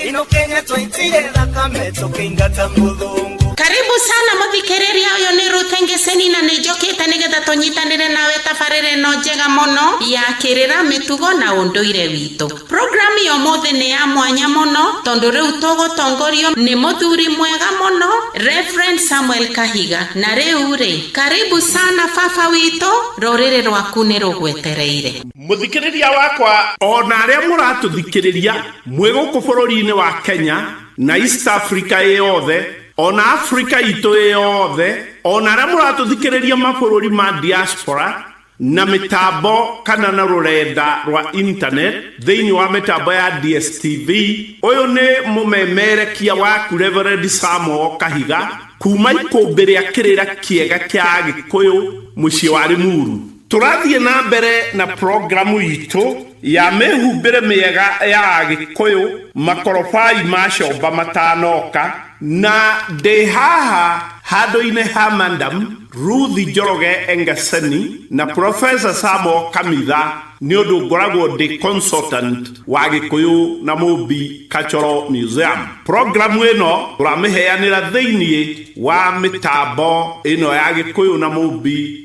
ino kenya twaitire thakame tũkĩingata mũthũngũ karibu sana mũthikĩrĩria ũyũ nĩ rute ngĩceni na nĩ njũkĩte nĩgetha tũnyitanĩre nawe tabarĩra ĩno njega mũno ya kĩrĩra mĩtugo na ũndũire witũ programu ya ũmũthĩ nĩ ya mwanya mũno tondũ rĩu tũgũtongorio nĩ mũthuri mwega mũno Reverend Samuel Kahiga na rĩu rĩ karibu sana baba witũ rũrĩrĩ rwaku nĩ rũgwetereire Mũthikĩrĩria wakwa, o na arĩa mũratũthikĩrĩria mwĩ gũkũ bũrũri-inĩ wa Kenya na East Africa ĩ yothe, o na Africa itũ ĩ yothe, o na arĩa mũratũthikĩrĩria mabũrũri ma diaspora, na mĩtambo kana na rũrenda rwa internet thĩinĩ wa mĩtambo ya DSTV, ũyũ nĩ mũmemerekia waku Reverend Sam O. Kahiga, kuuma ikũmbĩ rĩa kĩrĩra kĩega kĩa Agĩkũyũ, mũciĩ wa Limuru. Tũrathiĩ na mbere na programu itũ ya mĩhumbĩre mĩega ya Agĩkũyũ Makorobai ma Comba Matanoka, na ndĩ haha handũ-inĩ ha Madam Ruth Njoroge Engaseni na Professor Sam Okamitha nĩ ũndũ ngoragwo ndĩ consultant wa Gĩkũyũ na Mũmbi Cultural Museum. Programu ĩno tũramĩheanĩra thĩinĩ wa mĩtambo ĩno ya Gĩkũyũ na Mũmbi.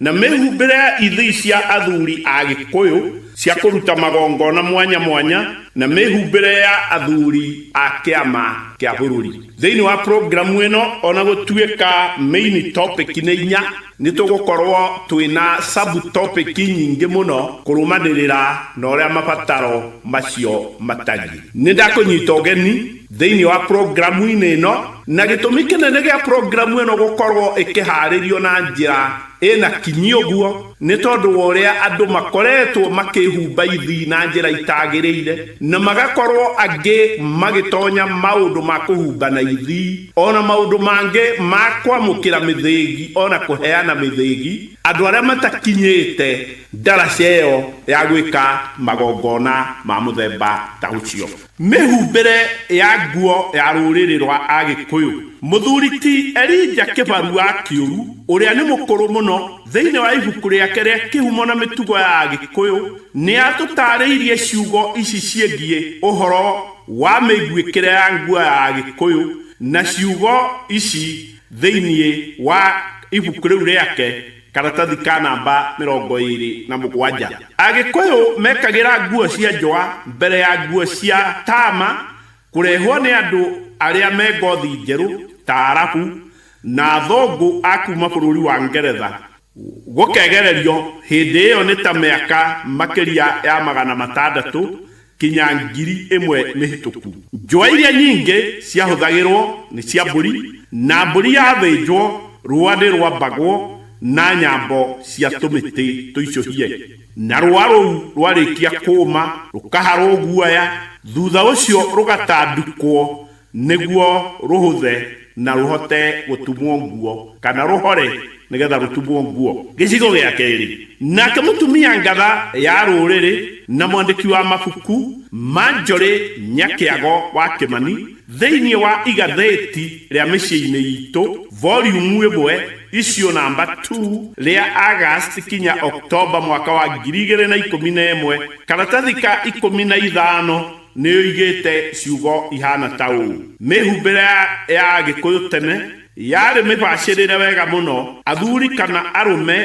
Na mĩhumbĩre ya ithĩi cia athuri a Gĩkũyũ cia kũruta magongona mwanya mwanya na mĩhumbĩre ya athuri a kĩama kĩa bũrũri thĩinĩ wa programu ĩno, o na gũtuĩka main topic nĩ inya, nĩ tũgũkorũo twĩ na sub-topic nyingĩ mũno kũrũmanĩrĩra na ũrĩa mabataro macio matariĩ. Nĩ ndakũnyita ũgeni Thĩinĩ wa programu-inĩ ĩno, na gĩtũmi kĩnene gĩa programu ĩno gũkorũo ĩkĩhaarĩrio na njĩra ĩ na kinyi ũguo nĩ tondũ wa ũrĩa andũ makoretwo makĩĩhumba ithi na njĩra itagĩrĩire na magakorũo angĩ magĩtonya maũndũ ma kũhumba na ithi o na maũndũ mangĩ ma kwamũkĩra mĩthĩgi o na kũheana mĩthĩgi andũ arĩa matakinyĩte ndaraca ĩyo ya gwĩka magongona ma mũthemba ta ũcio. Mĩhumbĩre ya nguo ya rũrĩrĩ rwa Agĩkũyũ. Mũthuri ti Elijah Kĩbarua Kĩũru, ũrĩa nĩ mũkũrũ mũno, thĩinĩ wa ibuku rĩake rĩa Kĩhumo na Mĩtugo ya Agĩkũyũ, nĩ atũtaarĩirie ciugo ici ciĩgiĩ ũhoro wa mĩiguĩkĩre ya nguo ya Agĩkũyũ na ciugo ici thĩinĩ wa ibuku rĩu rĩake, Karatathi ka namba mĩrongo ĩĩrĩ na mũgwanja. Agĩkũyũ mekagĩra nguo cia njũa mbere ya nguo cia taama kũrehwo nĩ andũ arĩa me ngothi njerũ ta Arabu na athũngũ a kuuma bũrũri wa Ngeretha. Gũkegererio hĩndĩ ĩyo nĩ ta mĩaka makĩria ya magana matandatũ kinya ngiri ĩmwe mĩhĩtũku. Njũa iria nyingĩ ciahũthagĩrũo nĩ cia mbũri, na mbũri yathĩnjwo, rũũa nĩ rwambagwo na nyambo cia tũmĩtĩ tũicũhie, na rũũa rũu rwarĩkia kũũma rũkaharũo guoya, thutha ũcio rũgatandĩkwo Nĩguo rũhũthe na rũhote gũtumwo nguo, kana rũhore nĩ getha rũtumwo nguo. Gĩcigo gĩa kerĩ, Nake mũtumia ngatha ya rũrĩrĩ na mwandĩki wa mabuku, Marjorie Nyakĩago wa Kĩmani, thĩinĩ wa igathĩti rĩa Mĩciĩ-inĩ Iitũ, Volume ĩmwe, Issue Number Two, rĩa August kinya October mwaka wa ngiri igĩrĩ na ikũmi na ĩmwe, karatathi ka ikũmi na ithano, Nĩ oigĩte ciugo ihaana ta ũũ, Mĩhumbĩre ya Agĩkũyũ tene yarĩ mĩbacĩrĩre wega mũno, athuri kana arũme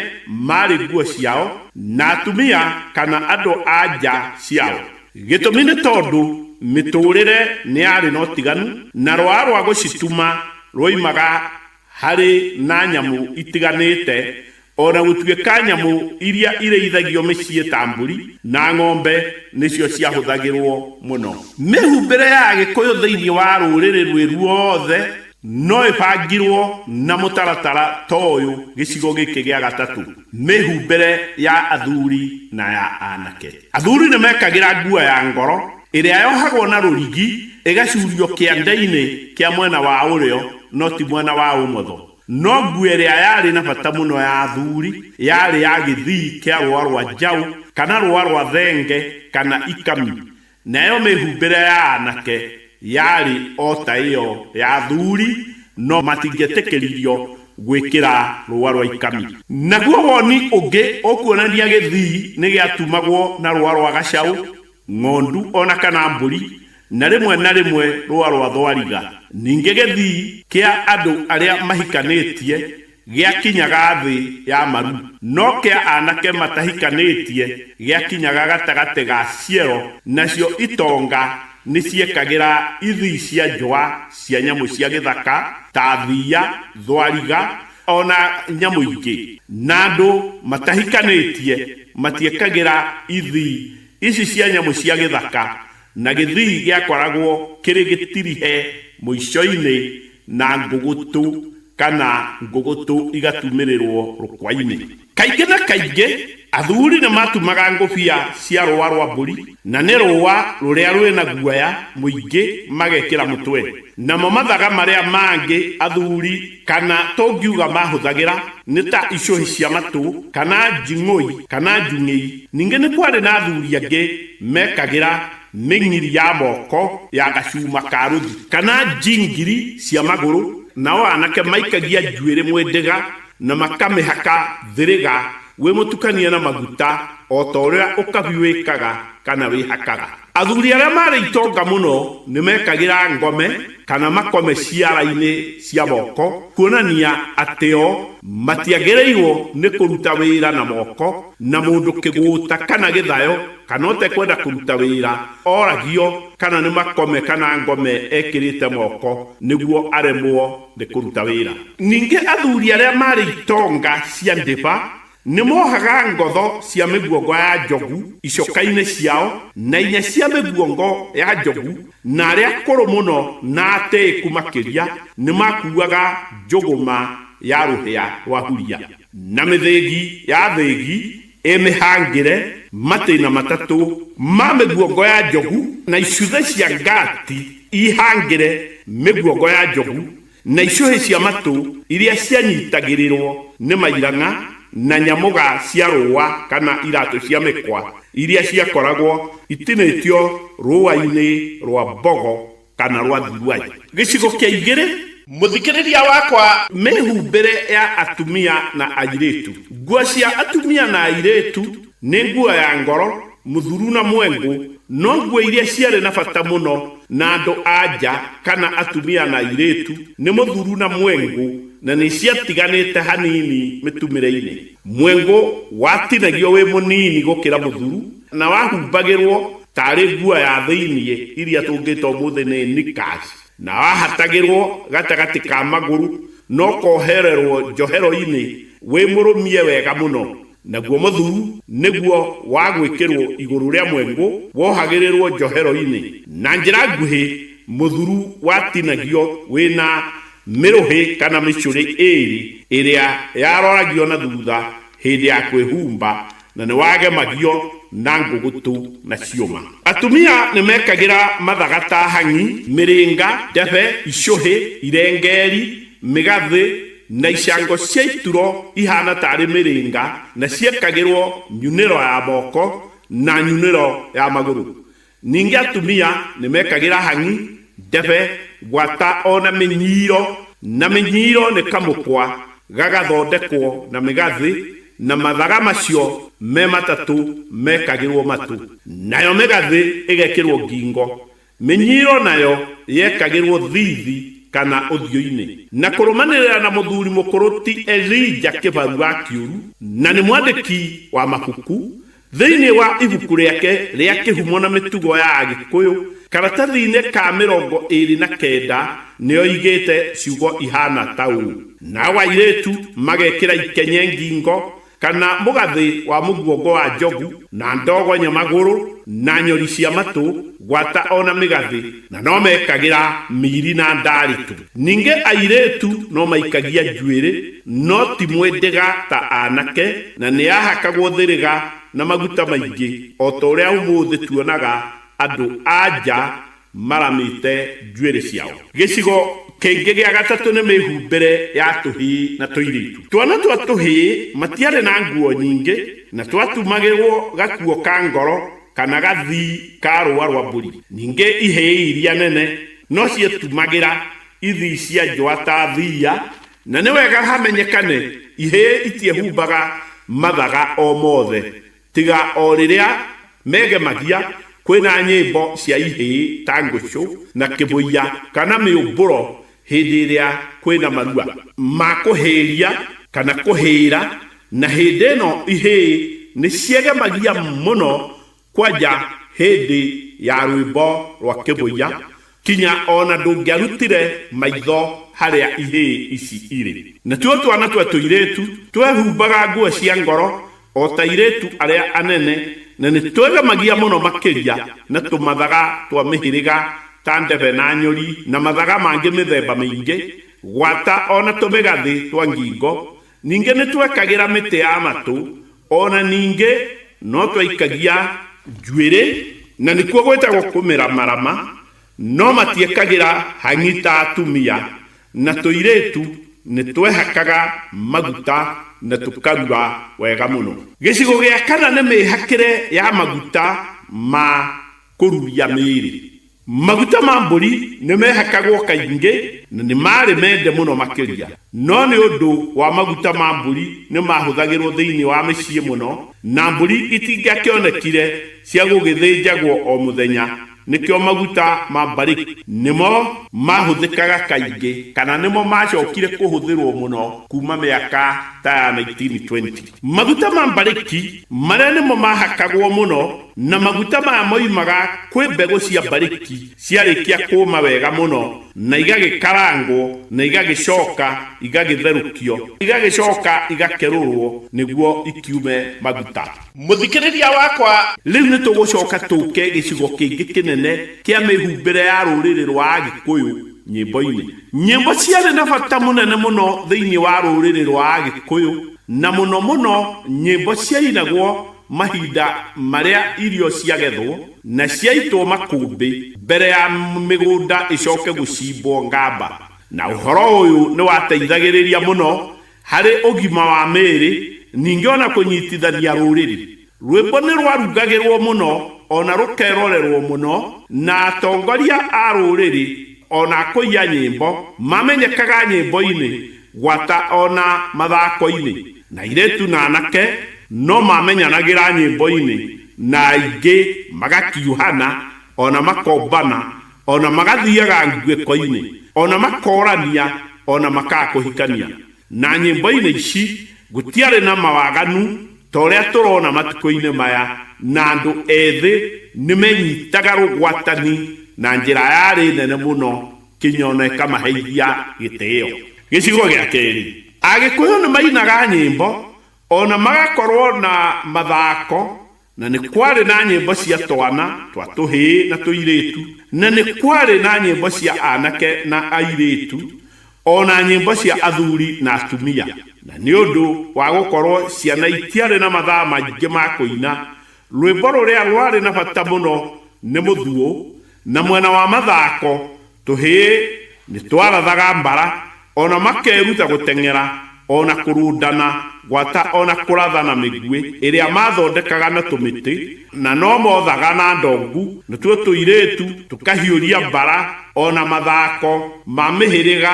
maarĩ nguo ciao, na atumia kana andũ-a-nja ciao. Gĩtũmi nĩ tondũ mĩtũũrĩre nĩ yarĩ na ũtiganu, na rwaa rwa gũcituma rwoimaga harĩ na nyamũ itiganĩte, o na gũtuĩka nyamũ iria irĩithagio mĩciĩ ta mbũri na ng'ombe nĩcio ciahũthagĩrũo mũno. Mĩhumbĩre ya Agĩkũyũ thĩinĩ wa rũrĩrĩ rwĩ ruothe no ĩbangirũo na mũtaratara ta ũyũ gĩcigo gĩkĩ gĩa gatatũ, Mĩhumbĩre ya athuri na ya anake. Athuri nĩ mekagĩra nguo ya ngoro Ĩrĩa yohagwo na rũrigi, ĩgacuurio kĩangainĩ kĩa mwena wa ũrĩo, no ti mwena wa ũmotho. No nguo ĩrĩa yarĩ na bata mũno ya athuri yarĩ ya gĩthii kĩa rũũa rwa njaũ, kana rũũa rwa thenge, kana ikami, nayo mĩhumbĩre ya aanake yarĩ o ta ĩyo ya athuri, no matingĩetĩkĩririo gwĩkĩra rũũa rwa ikami. Naguo woni ũngĩ ũkuonania gĩthii nĩgĩatumagwo na rũũa rwa gacaũ. ng'ondu o na kana mbũri, na rĩmwe na rĩmwe rũa rwa thwariga. Ningĩ gĩthii kĩa andũ arĩa mahikanĩtie gĩakinyaga thĩ ya maru, no kĩa anake matahikanĩtie gĩakinyaga gatagatĩ ga ciero, nacio itonga nĩciekagĩra ithii cia njũa cia nyamũ cia gĩthaka, ta thiia, thwariga, o na nyamũ ingĩ, na andũ matahikanĩtie matiekagĩra ithii Ici cia nyamũ cia gĩthaka na gĩthii gĩakoragwo kĩrĩ gĩtirihe mũico-inĩ na ngũgũtũ kana ngũgũtũ igatumĩrĩrũo rũkwa-inĩ. Kaingĩ na kaingĩ athuri nĩ maatumaga ngũbia cia rũũa rwa mbũri, na nĩ rũũa rũrĩa rwĩ na guoya mũingĩ magekĩra mũtwe. Namo mathaga marĩa mangĩ athuri kana tũngiuga mahũthagĩra nĩ ta icũhĩ cia matũ kana njing'ũi kana njung'ĩi. Ningĩ nĩ kwarĩ na athuri angĩ meekagĩra mĩng'iri ya moko ya gacuma ka rũthi kana njingiri cia magũrũ, nao anake maikagia njuĩrĩ mwĩndĩga na makamĩhaka thĩrĩga Wĩ mũtukanie na maguta, o ta ũrĩa ũkabi wĩkaga kana wĩhakaga. Athuri arĩa marĩ itonga mũno nĩ mekagĩra ngome kana makome ciara-inĩ cia moko kuonania atĩ o matiagĩrĩirũo nĩ kũruta wĩra na moko, na mũndũ kĩgũũta kana gĩthayo kana ũtekwenda kũruta wĩra oragio kana nĩ makome kana ngome ekĩrĩte moko nĩguo aremwo. nĩ kũruta wĩra. Ningĩ athuri arĩa marĩ itonga cia ndĩba nĩ mohaga ngotho cia mĩguongo ya njogu icoka-inĩ ciao, na inya cia mĩguongo ya njogu, na arĩa akũrũ mũno na atĩĩku makĩria nĩ makuuaga njũgũma ya rũhĩa rwa huria, na mĩthĩgi ya thĩgi, ĩ mĩhangĩre matĩna matatũ ma mĩguongo ya njogu na icũhĩ cia ngati ihangĩre mĩguongo ya njogu na icũhĩ cia matũ iria cianyitagĩrĩrwo nĩ mairang'a na nyamũga cia rũũa kana iratũ cia mĩkwa iria ciakoragwo itinĩtio rũũa-inĩ rwa mbogo kana rwa thiruai. Gĩcigo kĩa igĩrĩ. Mũthikĩrĩria wakwa, mĩhumbĩre ya atumia na airĩtu. Nguo cia atumia na airĩtu nĩ nguo ya ngoro, mũthuru na mwengũ, no nguo iria ciarĩ na bata mũno na andũ a nja kana atumia na airĩtu nĩ mũthuru na mwengũ na nĩ ciatiganĩte hanini mĩtumĩre-inĩ. Mwengũ watinagio wĩ mũnini gũkĩra mũthuru na wahumbagĩrwo tarĩ nguo ya thĩinĩ iria tũngĩta ũmũthĩ nĩ knickers, na wahatagĩrwo gatagatĩ ka magũrũ na ũkohererwo njohero-inĩ wĩ mũrũmie wega mũno, naguo mũthuu nĩguo wa gwĩkĩrwo igũrũ rĩa mwengũ wohagĩrĩrwo njohero-inĩ, na njĩra nguhĩ mũthuru watinagio wĩ na mĩrũhĩ kana mĩcũrĩ ĩĩrĩ ĩrĩa yaroragio na thutha hĩndĩ ya kwĩhumba Na nĩ wagemagio na ngũgũtũ na ciũma. Atumia nĩ mekagĩra mathaga ta hang'i, mĩrĩnga, ndebe, icũhĩ, irengeeri, mĩgathĩ, na icango cia ituro ihaana taarĩ mĩrĩnga, na ciekagĩrwo nyunĩro ya moko na nyunĩro ya magũrũ. Ningĩ atumia nĩ mekagĩra hang'i, ndebe, gwata o na mĩnyiiro, na mĩnyiiro nĩ kamũkwa gagathondekwo na mĩgathĩ, na mathaga macio me matatũ mekagĩrwo matũ, nayo mĩgathĩ ĩgekĩrwo ngingo, mĩnyiiro nayo yekagĩrwo thiithi kana ũthiũ-inĩ. Na kũrũmanĩrĩra na mũthuri mũkũrũ ti Elija kĩbarua kĩũru, na nĩ mwandĩki wa mabuku, Thĩinĩ wa ibuku rĩake rĩa Kĩhumo na Mĩtugo ya Agĩkũyũ, karatathi-inĩ ka mĩrongo ĩĩrĩ na kenda nĩ oigĩte ciugo ihaana ta ũũ, Nao airĩtu magekĩra ikenye ngingo, kana mũgathĩ wa mũguongo wa njogu, na ndogonyo magũrũ, na nyori cia matũ, gwata o na mĩgathĩ, na no mekagĩra miiri na ndaarĩtu. Ningĩ airĩtu no maikagia njuĩrĩ, no ti mwĩndĩga ta aanake, na nĩ ahakagwo thĩrĩga na maguta maingĩ, o ta ũrĩa ũmũthĩ tuonaga andũ-a-nja maramĩte njuĩrĩ ciao. Gĩcigo kĩngĩ gĩa gatatũ nĩ mĩhumbĩre ya tũhĩĩ na tũirĩtu. Twana twa tũhĩĩ matiarĩ na nguo nyingĩ, na twatumagĩrũo gakuo ka ngoro, kana gathii ka rũũa rwa mbũri. Ningĩ ihĩĩ iria nene no cietumagĩra ithii cia njũa ta thiia, na nĩ wega hamenyekane ihĩĩ itiehumbaga mathaga o mothe tiga o rĩrĩa megemagia kwĩna nyĩmbo cia ihĩĩ ta ngũcũ na kĩbũiya kana mĩũmbũro hĩndĩ ĩrĩa kwĩ na marua ma kũhĩĩria kana kũhĩĩra, na hĩndĩ ĩno ihĩĩ nĩ ciegemagia mũno kwanja hĩndĩ ya rwĩmbo rwa kĩvũiya kinya o na ndũngĩarutire maitho harĩa ihĩĩ ici irĩ. Natuo twana twa tũirĩĩtu twehumbaga nguo cia ngoro O ta airĩtu arĩa anene, na nĩ twĩgemagia mũno makĩria na tũmathaga twa mĩhĩrĩga ta ndebe na nyũri na mathaga mangĩ mĩthemba mĩingĩ, gwata o na tũmĩgathĩ twa ngingo. Ningĩ nĩ twekagĩra mĩtĩ ya matũ, o na ningĩ no twaikagia njuĩrĩ, na nĩkuo gwĩtagwo kũmĩramarama, No matiekagĩra hang'i ta atumia, na tũirĩtu nĩ twehakaga maguta na tũkarura wega mũno. Gĩcigo gĩa kana nĩ mĩĩhakĩre ya maguta ma kũruria mĩĩrĩ. Maguta ma mbũri nĩ meehakagwo kaingĩ na nĩ maarĩ mende mũno makĩria. No nĩ ũndũ wa maguta ma mbũri nĩ maahũthagĩrũo thĩinĩ wa mĩciĩ mũno, na mbũri itingĩakĩonekire cia gũgĩthĩnjagwo o mũthenya, Nĩkĩo maguta ma mbarĩki nĩmo maahũthĩkaga kaingĩ kana nĩmo maacokire kũhũthĩrũo mũno kuuma mĩaka ta ya 1920. Maguta ma mbarĩki marĩa nĩmo maahakagwo mũno na maguta maya moimaga kwĩ mbegũ cia mbarĩki ciarĩkia kũũma wega mũno na igagĩkarangwo na igagĩcoka igagĩtherũkio, igagĩcoka igakerũrũo nĩguo ikiume maguta. Mũthikĩrĩria wakwa, rĩu nĩ tũgũcoka tũke gĩcigo kĩngĩ kĩnene kĩa mĩhumbĩre ya rũrĩrĩ rwa Agĩkũyũ nyĩmbo-inĩ. Nyĩmbo ciarĩ na bata mũnene mũno thĩinĩ wa rũrĩrĩ rwa Agĩkũyũ, na mũno mũno nyĩmbo ciainagwo mahinda marĩa irio ciagethwo na ciaitwo makũmbĩ mbere ya mĩgũnda ĩcoke gũcimbwo ngamba, na ũhoro ũyũ nĩ wateithagĩrĩria mũno Harĩ ũgima wa mĩĩrĩ, ningĩ o na kũnyitithania rũrĩrĩ, rwĩmbo nĩ rwarungagĩrũo mũno o na rũkerorerũo mũno, na atongoria a rũrĩrĩ o na akũi a nyĩmbo mamenyekaga nyĩmbo-inĩ gwata o na mathako-inĩ, na airĩtu na anake no maamenyanagĩra nyĩmbo-inĩ na aingĩ magakiuhana o na makombana o na magathiaga nguĩko-inĩ, o na makorania, o na makaga kũhikania. Na nyĩmbo-inĩ ici gũtiarĩ na mawaganu ta ũrĩa tũrona matukũ-inĩ maya, na andũ ethĩ nĩ menyitaga rũgwatani na njĩra yarĩ nene mũno kinya o na ĩkamaheithia gĩtĩo. Gĩcigo gĩa kerĩ, Agĩkũyũ nĩ mainaga nyĩmbo, o na magakorũo na mathako Na nĩ kwarĩ na nyĩmbo cia twana twa tũhĩĩ na tũirĩtu, na nĩ kwarĩ na nyĩmbo cia aanake na airĩtu, o na nyĩmbo cia athuri na atumia. Na nĩ ũndũ wa gũkorũo ciana itiarĩ na mathaa maingĩ ma kũina, rwĩmbo rũrĩa rwarĩ na bata mũno nĩ mũthuu, na mwena wa mathako Tũhĩĩ nĩ twarathaga mbara, o na makeruta gũteng'era, o na kũrũndana gwata, o na kũrathana mĩguĩ ĩrĩa maathondekaga na tũmĩtĩ, na no moothaga na ndongu, natuo tũirĩĩtu tũkahiũria mbara, o na mathaako ma mĩhĩrĩga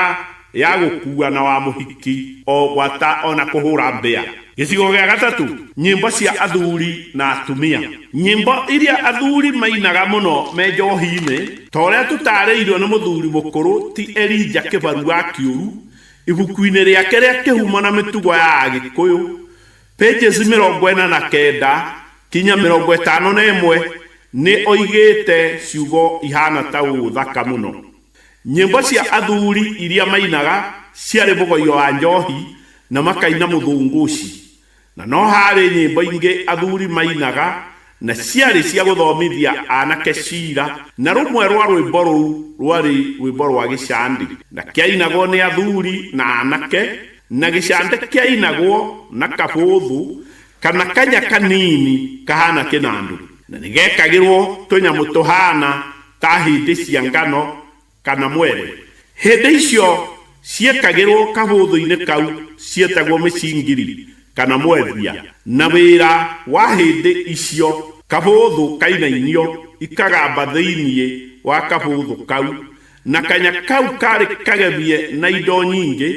Ya gũkua na wa mũhiki o gwata o na kũhũra mbĩa. Gĩcigo gĩa gatatũ, nyĩmbo cia athuri na atumia. Nyĩmbo iria athuri mainaga mũno me njohi-inĩ, ta ũrĩa tũtaarĩirũo nĩ mũthuri mũkũrũ ti Elijah Kĩbaru wa Kĩũru, ibuku-inĩ rĩake rĩa Kĩhumo na Mĩtugo ya Agĩkũyũ, pages mĩrongo ĩna na kenda kinya mĩrongo ĩtano na ĩmwe, nĩ oigĩte ciugo ihaana ta ũũ thaka mũno. Nyĩmbo cia athuri iria mainaga ciarĩ mũgoyo wa njohi na makaina mũthũngũci. Na no haarĩ nyĩmbo ingĩ athuri mainaga na ciarĩ cia gũthomithia anake cira, na rũmwe rwa rwĩmbo rũu rwarĩ rwĩmbo rwa gĩcandĩ, na kĩainagwo nĩ athuri na anake, na gĩcandĩ kĩainagwo na kabũthũ kana kanya kanini kahaana kĩnandũ, na nĩ gekagĩrwo tũnyamũ tũhaana ta hĩndĩ cia ngano kana mwere. Hĩndĩ icio ciekagĩrũo kabũthũ-inĩ kau cietagwo mĩcingiri kana mwethia, na wĩra wa hĩndĩ icio kabũthũ kainainio ikagamba thĩinĩ wa kabũthũ kau, na kanya kau kaarĩ kagemie na indo nyingĩ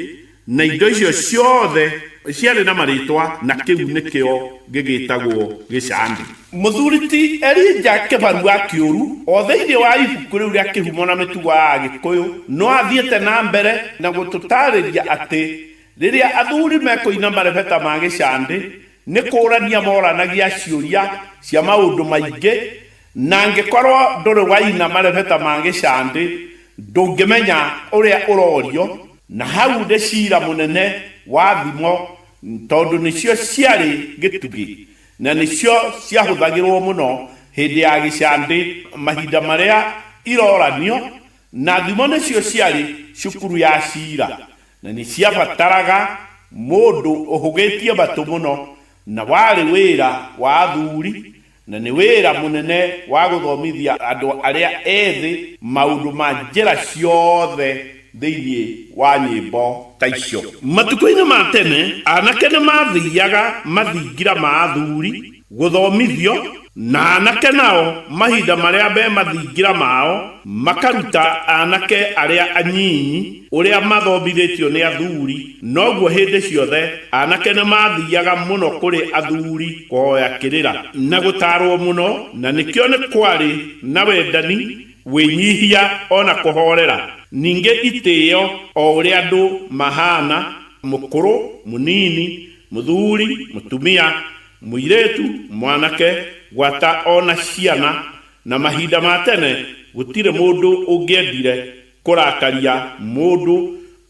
Na indo icio ciothe ciarĩ na marĩĩtwa, na kĩu nĩkĩo gĩgĩĩtagwo gĩcambĩ. Mũthuri ti Elija kĩbarua kĩũru o thĩinĩ wa ibuku rĩu rĩa Kĩhumo na Mĩtugo ya Agĩkũyũ no athiĩte na mbere na gũtũtaarĩria atĩ rĩrĩa athuri mekũina marebeta ma gĩcambĩ, nĩ kũũrania moranagia ciũria cia maũndũ maingĩ, na angĩkorũo ndũrĩ waina marebeta ma gĩcambĩ, ndũngĩmenya ũrĩa ũrorio. Na hau nĩ cira mũnene wa thimo tondũ nĩcio ciarĩ gĩtugĩ na nĩcio ciahũthagĩrũo mũno hĩndĩ ya gĩcandĩ mahinda marĩa iroranio, na thimo nĩcio ciarĩ cukuru ya cira na nĩ ciabataraga mũndũ ũhũgĩtie matũ mũno na warĩ wĩra wa athuri Na nĩ wĩra mũnene wa gũthomithia andũ arĩa ethĩ maũndũ ma njĩra ciothe thĩinĩ wa nyĩmbo ta icio. Matukũ-inĩ ma tene, anake nĩ maathiaga mathingira ma athuri gũthomithio, na anake nao mahinda marĩa me mathingira mao makaruta anake arĩa anyinyi ũrĩa mathomithĩtio nĩ athuri. Noguo hĩndĩ ciothe aanake nĩ maathiaga mũno kũrĩ athuri kũhoya kĩrĩra na gũtaarũo mũno, na nĩkĩo nĩ kwarĩ na wendani, wĩnyihia, o na kũhoorera, ningĩ itĩo o ũrĩa andũ mahaana, mũkũrũ, mũnini, mũthuri, mũtumia, mũirĩtu, mwanake, gwata o na ciana, na mahinda ma tene gũtirĩ mũndũ ũngĩendire kũrakaria mũndũ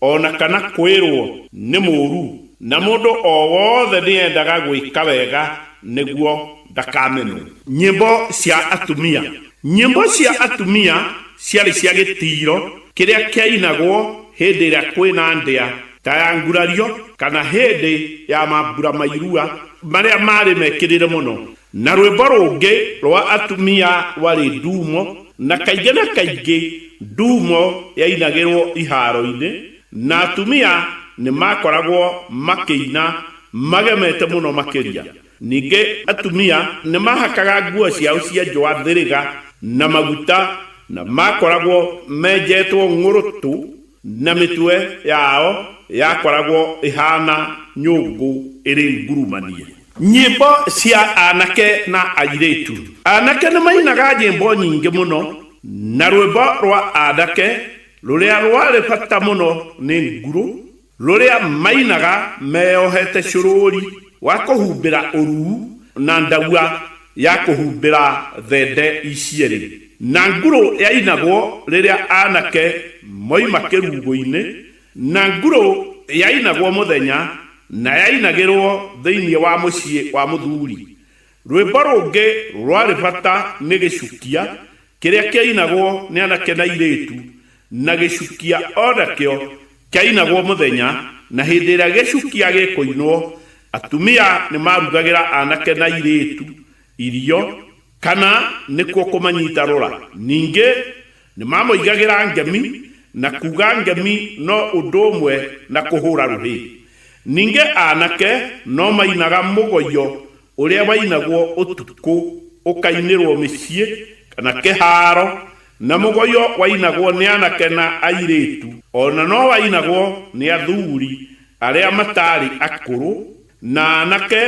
o na kana kwĩrũo nĩ mũũru, na mũndũ o wothe nĩ endaga gwĩka wega nĩguo ndakamenwo. Nyĩmbo cia atumia. Nyĩmbo cia atumia ciarĩ cia gĩtĩo kĩrĩa kĩainagwo hĩndĩ ĩrĩa kwĩ na ndĩa ta ya ngurario kana hĩndĩ ya mambura ma irua marĩa maarĩ mekĩrĩre mũno. Na rwĩmbo rũngĩ rwa atumia rwarĩ nduumo, na kaingĩ na kaingĩ nduumo yainagĩrũo ihaaro-inĩ, na atumia nĩ maakoragwo makĩina magemete mũno makĩria. Ningĩ atumia nĩ maahakaga nguo ciao cia njũa thĩrĩga na maguta, na maakoragwo menjetwo ng'ũrũtũ. Na mĩtwe yao yakoragwo ĩhaana nyũngũ ĩrĩ ngurumanie. Nyĩmbo cia aanake na airĩtu. Aanake nĩ mainaga nyĩmbo nyingĩ mũno, na rwĩmbo rwa aanake rũrĩa rwarĩ bata mũno nĩ ngurũ, rũrĩa mainaga meyohete cũrũũri wa kũhumbĩra ũruu na ndagua ya kũhumbĩra thende icierĩ. Na ngurũ yainagwo rĩrĩa aanake moima kĩrungũinĩ, na ngurũ yainagwo mũthenya, na yainagĩrwo thĩinĩ wa mũciĩ wa mũthuuri. Rwĩmbo rũngĩ rwarĩ bata nĩ gĩcukia, kĩrĩa kĩainagwo nĩ anake na airĩĩtu, na gĩcukia o nakĩo kĩainagwo mũthenya, na hĩndĩ ĩrĩa gĩcukia gĩkũinwo, atumia nĩmarugagĩra anake na airĩĩtu irio, Kana nĩkuo kũmanyita rũra. Ningĩ nĩ mamoigagĩra ngemi, na kuuga ngemi no ũndũ ũmwe na kũhũra rũhĩ. Ningĩ anake no mainaga mũgoyo ũrĩa wainagwo ũtukũ ũkainĩrwo mĩciĩ kana kĩhaaro, na mũgoyo wainagwo nĩ anake na airĩtu, o na no wainagwo nĩ athuri arĩa mataarĩ akũrũ Na anake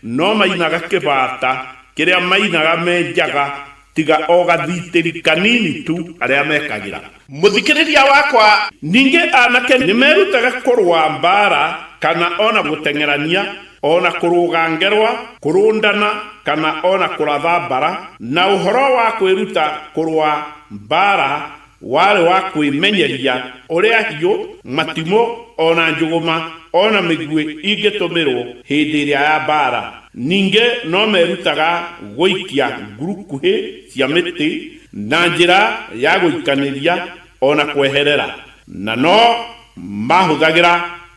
no mainaga kĩbata kĩrĩa mainaga me njaga tiga o gathitĩri kanini tu arĩa mekagĩra. Mũthikĩrĩria wakwa! Ningĩ anake nĩ merutaga kũrũa mbaara kana o na gũteng'erania, o na kũrũga ngerwa, kũrũndana kana o na kũratha mbara, na ũhoro wa kwĩruta kũrũa mbaara Warĩ wa kwĩmenyeria ũrĩa hiũ, matimũ, o na njũgũma, o na mĩguĩ ingĩtũmĩrũo hĩndĩ ĩrĩa ya mbaara. Ningĩ no meerutaga gũikia ngurukuhĩ cia mĩtĩ na njĩra ya gũikanĩria o na kweherera, na no maahũthagĩra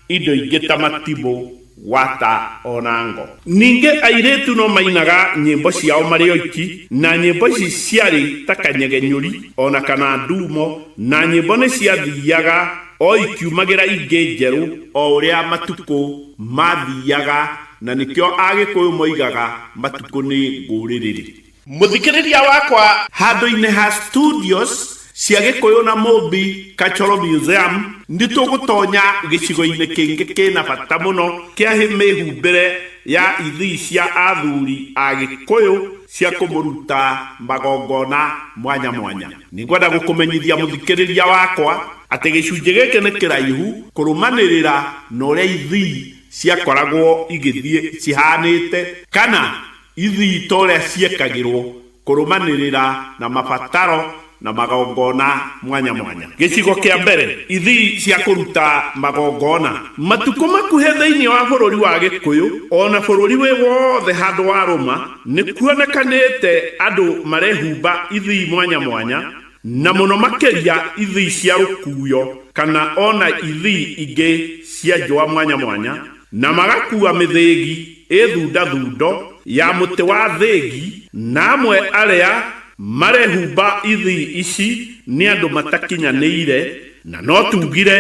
Indo ingĩ ta matimũ, wata, o na ngo. Ningĩ airĩtu no mainaga nyĩmbo ciao marĩ oiki, na nyĩmbo ici ciarĩ ta kanyegenyũri o na kana nduumo, na nyĩmbo nĩ ciathiaga o ikiumagĩra ingĩ njerũ, o ũrĩa matukũ maathiaga, na nĩkĩo Agĩkũyũ moigaga matukũ nĩ ngũrĩrĩrĩ. Mũthikĩrĩria wakwa, handũ-inĩ ha studios cia Gĩkũyũ na Mũmbi Cultural Museum, nĩ tũgũtonya gĩcigo-inĩ kĩngĩ kĩna bata mũno kĩa mĩhumbĩre ya ithii cia athuri a Gĩkũyũ cia kũmũruta magongona mwanya mwanya. Nĩ ngwenda gũkũmenyithia mũthikĩrĩria wakwa atĩ gĩcunjĩ gĩkĩ nĩ kĩraihu kũrũmanĩrĩra na ũrĩa ithii ciakoragwo igĩthiĩ cihanĩte kana Ithii ta ũrĩa ciekagĩrwo kũrũmanĩrĩra na mabataro na magongona mwanya mwanya. Gĩcigo kĩa mbere, Ithii cia kũruta magongona. Matukũ makuhĩ thĩinĩ wa bũrũri wa Gĩkũyũ, o na bũrũri wĩ wothe handũ warũma, nĩ kuonekanĩte andũ marehumba ithii mwanya mwanya, na mũno makĩria ithii cia rũkuuyo kana o na ithii ingĩ cia njũa mwanya mwanya, Na magakuua mĩthĩgi ĩthunda thundo ya mũtĩ wa thĩgi. Na amwe arĩa marehumba ithii ici nĩ andũ matakinyanĩire, na no tugire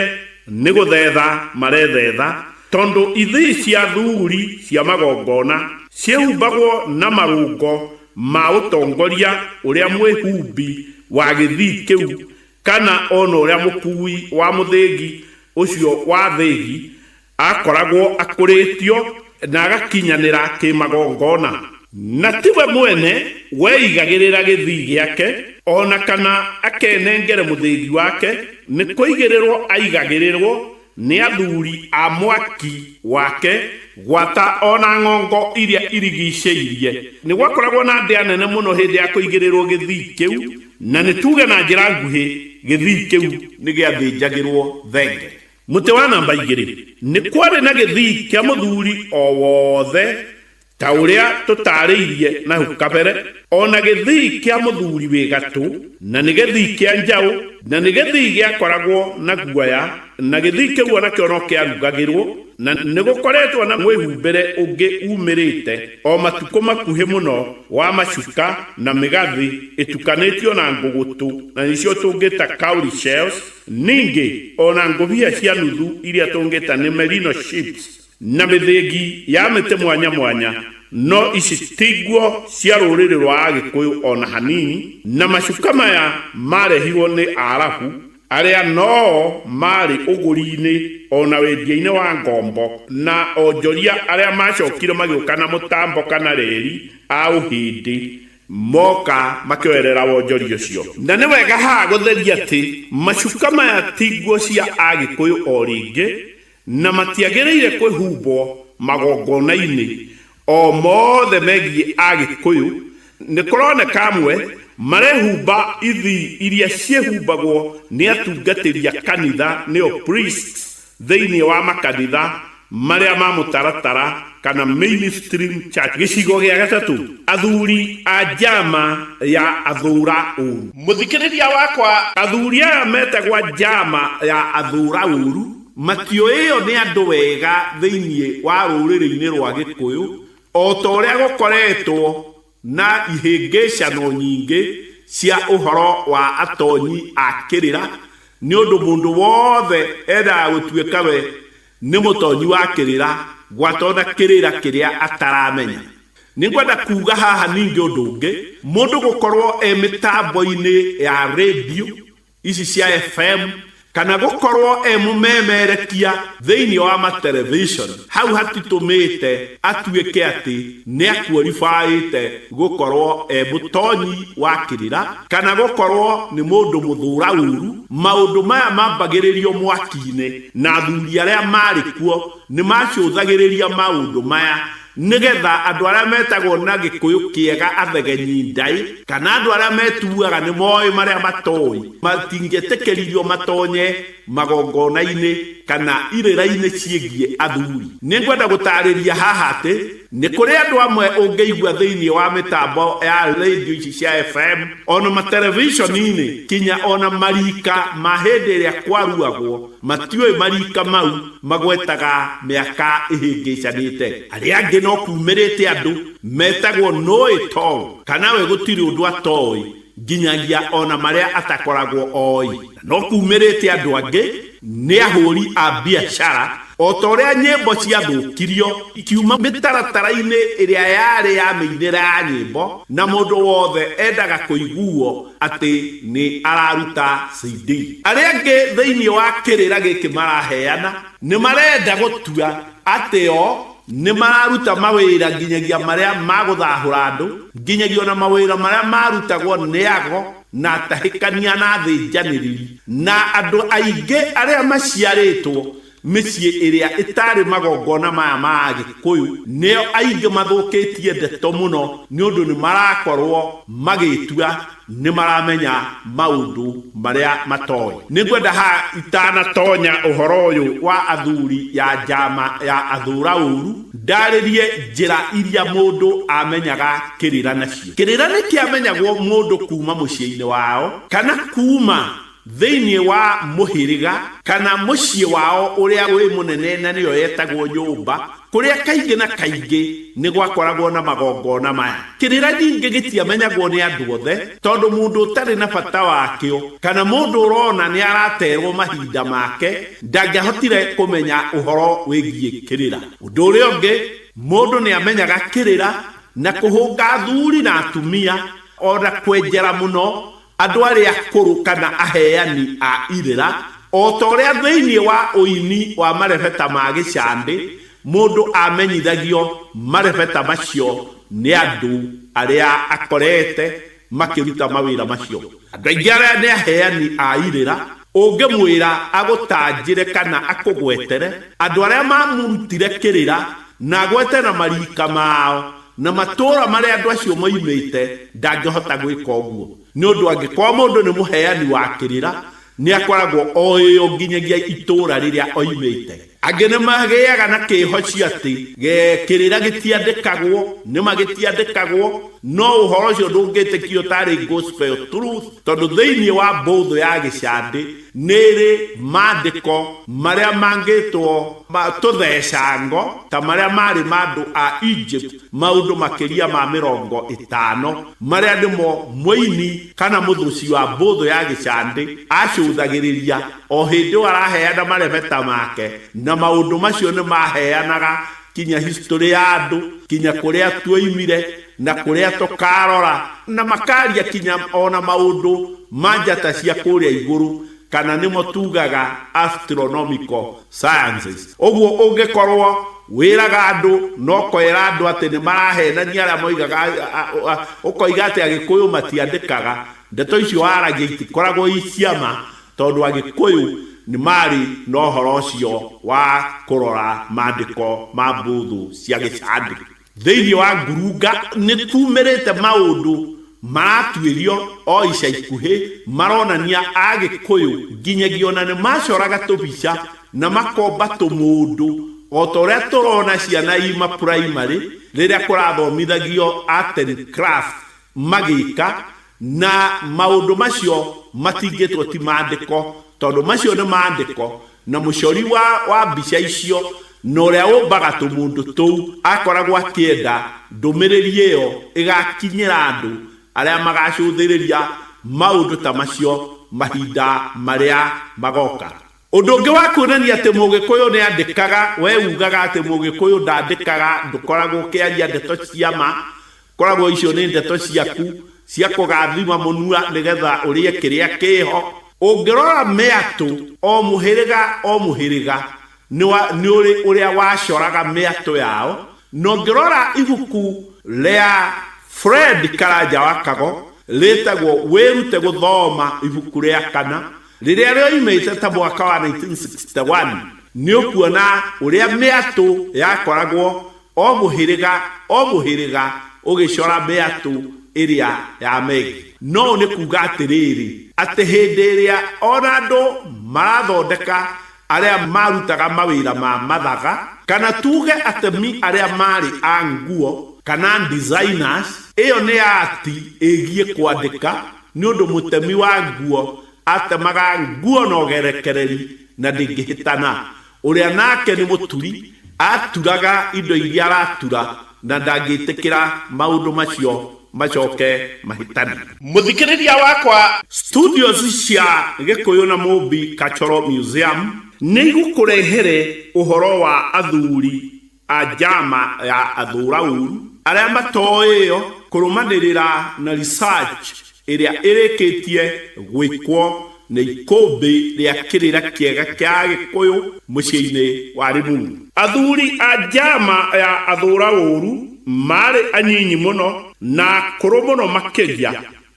nĩ gũthetha marethetha, tondũ ithii cia thuguri cia magongona ciĩhumbagwo na marũngo ma ũtongoria ũrĩa mwĩhumbi wa gĩthii kĩu, kana o na ũrĩa mũkuui wa mũthĩgi ũcio wa thĩgi, akoragwo akũrĩtio na agakinyanĩra kĩmagongona na tiwe mwene weigagĩrĩra gĩthii gĩake o na kana akenengere mũthĩgi wake, nĩ kũigĩrĩrwo aigagĩrĩrwo nĩ athuri a mwaki wake gwata o na ng'ongo iria irigicĩirie. Nĩ gwakoragwo na ndĩa nene mũno hĩndĩ ya kũigĩrĩrwo gĩthii kĩu, na nĩ tuuge na njĩra nguhĩ gĩthii kĩu nĩ gĩathĩnjagĩrwo thenge. Mũtĩ wa namba igĩrĩ. Nĩ kwarĩ na gĩthii kĩa mũthuri o wothe ta ũrĩa tũtaarĩirie na hau kabere, o na gĩthii kĩa mũthuri wĩ gatũ, na nĩ gĩthii kĩa njaũ, na nĩ gĩthii gĩakoragwo na guoya, na gĩthii kĩu o nakĩo no kĩarugagĩrwo, na nĩ gũkoretwo na mwĩhumbĩre ũngĩ uumĩrĩte o matukũ makuhĩ mũno wa macuka na mĩgathĩ ĩtukanĩtio na ngũgũtũ, na nĩcio tũngĩta cowrie shells, Ningĩ, o na ngũbia cia nuthu iria tũngĩta nĩ merino sheets na mĩthĩngi ya mĩtĩ mwanya mwanya, no ici ti nguo cia rũrĩrĩ rwa Agĩkũyũ o na hanini, na macuka maya marehirwo nĩ Arabu arĩa no o maarĩ ũgũri-inĩ o na wendia-inĩ wa ngombo, na onjoria arĩa macokire magĩũka na mũtambo kana reri a Ũhĩndĩ Moka makĩoerera wonjori ũcio. Na nĩ wega haha gũtheria atĩ macuka maya ti nguo cia Agĩkũyũ o rĩngĩ, na matiagĩrĩire kwĩhumbwo magongona-inĩ o mothe megiĩ Agĩkũyũ. Nĩ kũroneka amwe marehumba ithii iria ciĩhumbagwo nĩ atungatĩri a kanitha, nĩo priests, Thĩinĩ wa makanitha marĩa ma mũtaratara kana mainstream church. Gĩcigo gĩa gatatũ, athuri a njama ya athũũra ũũru. Mũthikĩrĩria wakwa, athuri aya metagwa njama ya athũũra ũũru matioĩo nĩ andũ wega thĩinĩ wa rũrĩrĩ-inĩ rwa Gĩkũyũ o ta ũrĩa gũkoretwo Na ihĩngĩcano nyingĩ cia ũhoro wa atonyi a kĩrĩra, nĩ ũndũ mũndũ wothe endaga gũtuĩka we nĩ mũtonyi wa kĩrĩra gwata o na kĩrĩra kĩrĩa ataramenya. Nĩ ngwenda kuuga haha ningĩ ũndũ ũngĩ, mũndũ gũkorũo e mĩtambo-inĩ ya redio ici cia fm kana gũkorwo e mũmemerekia thĩinĩ wa matelevishon hau hatitũmĩte atuĩke atĩ nĩ akuoribaĩte gũkorwo e mũtonyi wa kĩrĩra kana gũkorwo nĩ mũndũ mũthũra ũru maũndũ maya mambagĩrĩrio mwaki-inĩ na athuri arĩa marĩ kuo nĩ macũthagĩrĩria maũndũ maya Nĩ getha andũ arĩa metagwo na Gĩkũyũ kĩega athegenyi ndaĩ, kana andũ arĩa metuaga nĩ moĩ marĩa matoĩ, matingĩetĩkĩririo matonye magongona-inĩ kana irĩra-inĩ ciĩgiĩ athuri. Nĩ ngwenda gũtaarĩria haha atĩ nĩ kũrĩ andũ amwe ũngĩigua thĩinĩ wa mĩtambo ya redio ici cia FM, o na materebiconi-inĩ, kinya o na mariika ma hĩndĩ ĩrĩa kwaruagwo, matiũĩ mariika mau, Magwetaga mĩaka ĩhĩngĩcanĩte. Arĩa angĩ no kuumĩrĩte andũ metagwo Noĩ Tol, kana we gũtirĩ ũndũ atoĩ, nginyagia o na marĩa atakoragwo oĩ. Na no kuumĩrĩte andũ angĩ nĩ ahũri a biacara, o ta ũrĩa nyĩmbo ciathũkirio ikiuma mĩtaratara-inĩ ĩrĩa yarĩ ya mĩinĩre ya nyĩmbo, na mũndũ wothe endaga kũiguo atĩ nĩ araruta CD. Arĩa angĩ thĩinĩ wa kĩrĩra gĩkĩ maraheana nĩ marenda gũtua atĩ o nĩ mararuta mawĩra nginyagia marĩa ma gũthahũra andũ, nginyagia o na mawĩra marĩa marutagwo nĩ ago na atahĩkania na athĩnjanĩrĩri, na andũ aingĩ arĩa maciarĩtwo Mĩciĩ ĩrĩa ĩtaarĩ magongona maya ma Agĩkũyũ nĩo aingĩ mathũkĩtie ndeto mũno nĩ ũndũ nĩ marakorũo magĩĩtua nĩ maramenya maũndũ marĩa matoĩ. Nĩ ngwenda haha itanatonya ũhoro ũyũ wa athuri ya njama ya athũũra ũũru, ndarĩrie njĩra iria mũndũ amenyaga kĩrĩra nacio. Kĩrĩra nĩ kĩamenyagwo mũndũ kuuma mũciĩ-inĩ wao kana kuuma Thĩinĩ wa mũhĩrĩga kana mũciĩ wao ũrĩa wĩ mũnene na nĩyo yetagwo nyũmba, kũrĩa kaingĩ na kaingĩ nĩ gwakoragwo na magongona maya. Kĩrĩra ningĩ gĩtiamenyagwo nĩ andũ othe, tondũ mũndũ ũtarĩ na bata wakĩo kana mũndũ ũrona nĩ arateerũo mahinda make ndangĩahotire kũmenya ũhoro wĩgiĩ kĩrĩra. Ũndũ ũrĩa ũngĩ, mũndũ nĩ aamenyaga kĩrĩra na kũhũnga athuri na atumia o na kwenjera mũno Andũ arĩa akũrũ kana aheani a irĩra, o ta ũrĩa thĩinĩ wa ũini wa marebeta ma Gĩcandĩ mũndũ amenyithagio marebeta macio nĩ andũ arĩa akorete makĩruta mawĩra macio. Andũ aingĩ arĩa nĩ aheani a irĩra, ũngĩmwĩra agũtanjĩre kana akũgwetere andũ arĩa mamũrutire kĩrĩra na agwete na mariika mao, Na matũũra marĩa andũ acio moimĩte, ndangĩhota gwĩka ũguo, nĩ ũndũ angĩkorũo mũndũ nĩ mũheani wa kĩrĩra, nĩ akoragwo oĩ o nginyagia itũũra rĩrĩa oimĩte. Angĩ nĩ magĩaga na kĩĩhocio atĩ kĩrĩra gĩtiandĩkagwo. Nĩ ma gĩtiandĩkagwo, no ũhoro ũcio ndũngĩtĩkio ũtarĩ gospel truth, tondũ thĩinĩ wa mbũthũ ya gĩcandĩ, Nĩ rĩ maandĩko marĩa mangĩtwo ma tũthecango ta marĩa maarĩ ma andũ a Egypt maũndũ makĩria ma mĩrongo ĩtano marĩa nĩmo mũini kana mũthũci wa mbũthũ ya gĩcandĩ acũthagĩrĩria o hĩndĩ o araheana marebeta make na maũndũ macio nĩ maheanaga kinya history ya andũ kinya kũrĩa tuoimire na kũrĩa tũkaarora na makaaria kinya o na maũndũ ma njata cia kũrĩa igũrũ, kana nĩmo tuugaga astronomical sciences. Ũguo ũngĩkorũo wĩraga andũ na ũkeera andũ atĩ nĩ maraheenania arĩa moigaga ũkoiga atĩ Agĩkũyũ matiandĩkaga, ndeto icio waragia itikoragwo i cia ma tondũ Agĩkũyũ nĩ marĩ na ũhoro ũcio wa kũrora maandĩko ma mbũthũ cia Gĩcandĩko. Thĩinĩ wa ngurunga nĩ kuumĩrĩte maũndũ maratuĩrio o ica ikuhĩ maronania Agĩkũyũ nginyagia o na nĩ macoraga tũbica na makomba tũmũndũ o ta ũrĩa tũrona ciana ima primary rĩrĩa kũrathomithagio art and craft magĩka Na maũndũ macio matingĩtwo ti maandĩko, tondũ macio nĩ maandĩko, na mũcori wa wa mbica icio, na ũrĩa ũmbaga tũmũndũ tũu, akoragwo akĩenda ndũmĩrĩri ĩyo ĩgaakinyĩra andũ arĩa magaacũthĩrĩria maũndũ ta macio mahinda marĩa magooka. Ũndũ ũngĩ wa kuonania atĩ Mũgĩkũyũ nĩ andĩkaga, we ugaga atĩ Mũgĩkũyũ ndandĩkaga, ndũkoragwo ũkĩaria ndeto cia ma, ũkoragwo icio nĩ ndeto ciaku cia kũgathima mũnua nĩ getha ũrĩe kĩrĩa kĩho. Ũngĩrora mĩatũ, o mũhĩrĩga o mũhĩrĩga nĩ ũrĩ ũrĩa wacoraga mĩatũ yao, na ũngĩrora ibuku rĩa Fred Karanja wa Kago rĩtagwo Wĩrute Gũthoma ibuku rĩa kana, Rĩrĩa rĩoimĩte ta mwaka wa 1961, nĩ ũkuona ũrĩa mĩatũ yakoragwo o mũhĩrĩga o mũhĩrĩga ũgĩcora mĩatũ ĩrĩa ya Megi. No ũũ nĩ kuuga atĩrĩrĩ, atĩ hĩndĩ ĩrĩa o na andũ marathondeka arĩa maarutaga mawĩra ma mathaga, kana tuuge atemi arĩa maarĩ a nguo, kana designers, ĩyo nĩ ati ĩgiĩ kwandĩka, Nĩ ũndũ mũtemi wa nguo atemaga nguo na ũgerekereri na ndĩngĩhĩtana, ũrĩa nake nĩ mũturi aturaga indo iria aratura na ndangĩtĩkĩra maũndũ macio macoke mahĩtane. Mũthikĩrĩria wakwa, Studios cia Gĩkũyũ na Mũmbi Cultural Museum nĩ igũkũrehere ũhoro wa athuri ajama ya athũra ũru arĩa matoĩyo kũrũmanĩrĩra na research ĩrĩa ĩrĩkĩtie gwĩkwo nĩ ikũmbĩ rĩa kĩrĩra kĩega kĩa agĩkũyũ mũciĩinĩ wa Limuru. Athuri a jama ya athũra ũru marĩ anyinyi mũno na akũrũ mũno makĩria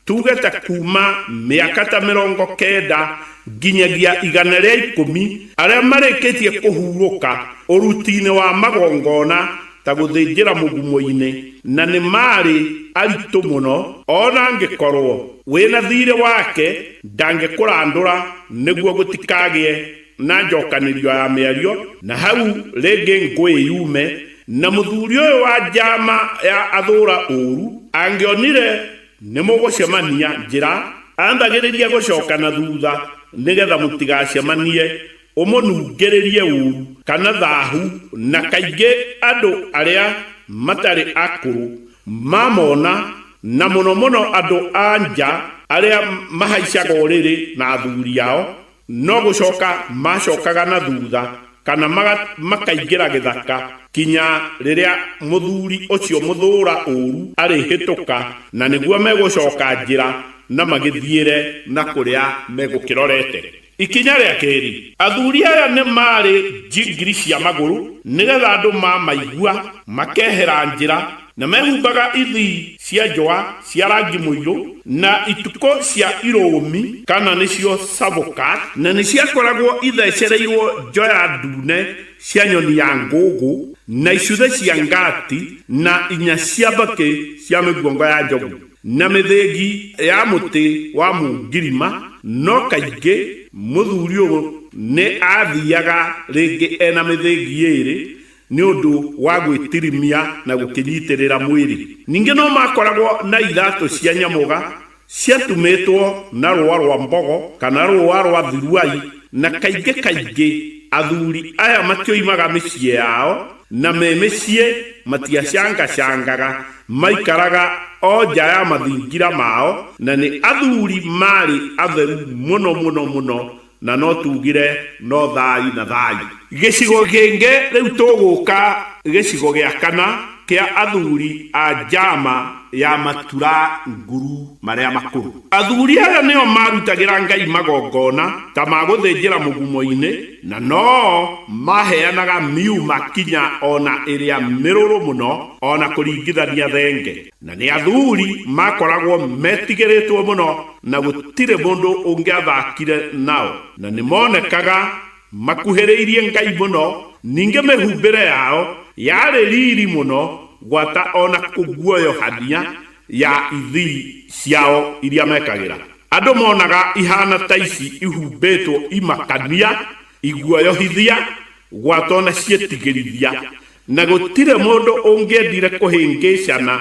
tuge ta kuuma mĩaka ta mĩrongo kenda nginyagia igana rĩa ikũmi, arĩa marĩkĩtie kũhurũka ũruti-inĩ wa magongona ta gũthĩnjĩra mũgumo-inĩ, na nĩ maarĩ aritũ mũno, o na angĩkorũo wĩ na thiirĩ wake ndangĩkũrandũra nĩguo gũtikagĩe na njokanĩrio ya mĩario na hau rĩngĩ ngũĩ yume na mũthuri ũyũ wa njama ya athũra ũru angĩonire nĩmũgũcemania njĩra ambagĩrĩria gũcoka na thutha nĩgetha mũtigacemanie ũmũnungĩrĩrie ũru kana thahu na kaingĩ andũ arĩa matarĩ akũrũ mamona na mũno mũno andũ a nja arĩa mahaicaga ũrĩrĩ na athuri ao No gũcoka maacokaga na thutha kana maga- makaingĩra gĩthaka kinya rĩrĩa mũthuri ũcio mũthũũra ũũru arĩhĩtũka, na nĩguo megũcoka njĩra na magĩthiĩre na kũrĩa megũkĩrorete. Ikinya rĩa keerĩ, athuri aya nĩ maarĩ njingiri cia magũrũ, nĩgetha andũ mamaigua makehera njĩra, Na mehumbaga ithii cia njũa cia rangi mũirũ, na itukũ cia irũũmi, kana nĩcio cavũka, na nĩciakoragwo itheecereirwo njoya ndune cia nyoni ya ngũngũ, na icuthĩ cia ngaati, na inya cia mbakĩ cia mĩguongo ya njogu, na mĩthĩgi ya mũtĩ wa mũngirima, no kaingĩ mũthuuri ũyũ nĩ aathiiaga rĩngĩ e na mĩthĩgi ĩĩrĩ, Nĩ ũndũ wa gwĩtirimia na gũkĩnyitĩrĩra mwĩrĩ. Ningĩ no maakoragwo na iratũ cia nyamũga ciatumĩtwo na rũũa rwa mbogo kana rũũa rwa thiruai, na kaingĩ kaingĩ athuri aya matioimaga mĩciĩ yao, na me mĩciĩ matiacangacangaga, maaikaraga o nja ya mathingira mao, na nĩ athuri maarĩ atheru mũno mũno mũno Na no tuugire, No thaayu na thaayu. Gĩcigo kĩngĩ rĩu tũgũka gĩcigo gĩa kana kĩa athuri a njama ya matura nguru marĩa makũrũ. Athuri aya nĩo maarutagĩra Ngai magongona ta ma gũthĩnjĩra mũgumo-inĩ, na no maaheanaga miuma kinya o na ĩrĩa mĩrũrũ mũno, o na kũringithania thenge. Na nĩ athuri maakoragwo metigĩrĩtwo mũno, na gũtirĩ mũndũ ũngĩathakire nao. Na nĩ moonekaga makuhĩrĩirie Ngai mũno, ningĩ mĩhumbĩre yao yarĩ riri mũno gwata o na kũguoyohania ya ithii ciao iria mekagĩra. Andũ moonaga ihaana ta ici ihumbĩtwo imakania, iguoyohithia, gwata o na ciĩtigĩrithia. Na gũtirĩ mũndũ ũngĩendire kũhĩngĩcana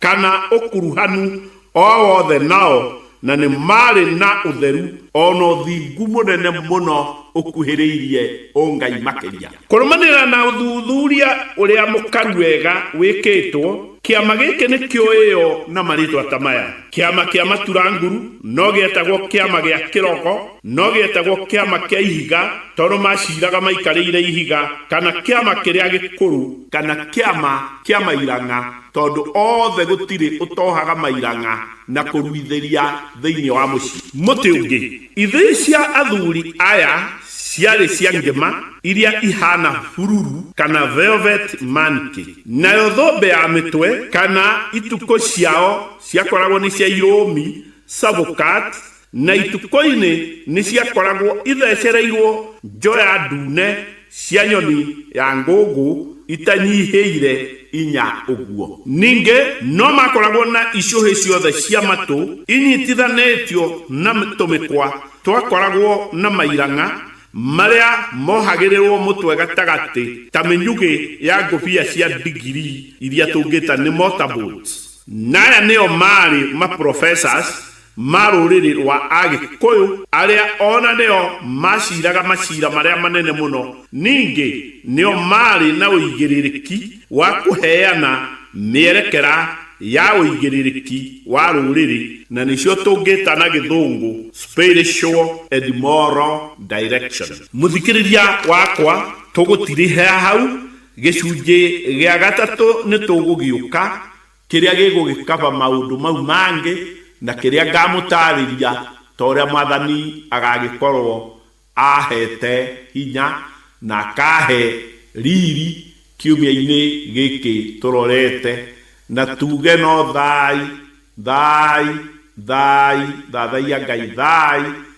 kana ũkuruhanu o wothe nao, na nĩ maarĩ na ũtheru o na ũthingu mũnene mũno ũkuhĩrĩirie ũngai makĩria. Kũrũmanĩrĩra na ũthuthuria ũrĩa mũkaru wega wĩkĩtwo, kĩama gĩkĩ nĩ kĩoĩo na marĩĩtwa ta maya, Kĩama kĩa Matura Nguru, no gĩetagwo Kĩama gĩa Kĩrogo, No gĩetagwo kĩama kĩa ihiga tondũ maaciraga maikarĩire ihiga, kana kĩama kĩrĩa gĩkũrũ, kana kĩama kĩa mairang'a tondũ othe gũtirĩ ũtohaga mairang'a na kũruithĩria thĩinĩ wa mũciĩ. Mũtĩ ũngĩ. Ithĩi cia athuri aya ciarĩ cia ngĩma iria ihaana bururu kana velvet manke, nayo thũmbĩ ya mĩtwe kana itukũ ciao ciakoragwo nĩ cia irũũmi, sabokat, Na itukũ-inĩ nĩ ciakoragwo ithecereirwo njoya ndune cia nyoni ya ngũngũ itanyihĩire inya ũguo. Ningĩ no maakoragwo na icũhĩ ciothe cia matũ inyitithanĩtio na tũmĩkwa twakoragwo na mairang'a marĩa mohagĩrĩrũo mũtwe gatagatĩ ta mĩnyugĩ ya ngũbia cia ndigiri iria tũngĩta nĩ mortar boards. Na aya nĩo maarĩ ma professors ma rũrĩrĩ rwa Agĩkũyũ, arĩa o na nĩo maaciraga maciira marĩa manene mũno, ningĩ nĩo maarĩ na ũigĩrĩrĩki wa kũheana mĩerekera ya ũigĩrĩrĩki wa rũrĩrĩ, na nĩcio tũngĩta na Gĩthũngũ spiritual and moral direction. Mũthikĩrĩria wakwa, tũgũtirihia hau, gĩcunjĩ gĩa gatatũ nĩ tũgũgĩũka Kĩrĩa gĩgũgĩkaba maũndũ mau mangĩ, na kĩrĩa ngaamũtaarĩria, ta ũrĩa Mwathani agagĩkorwo aaheete hinya na akaahe riiri kiumia-inĩ gĩkĩ tũrorete, na tuuge no thaai, thaai, thaai, thathaiya Ngai, thaai.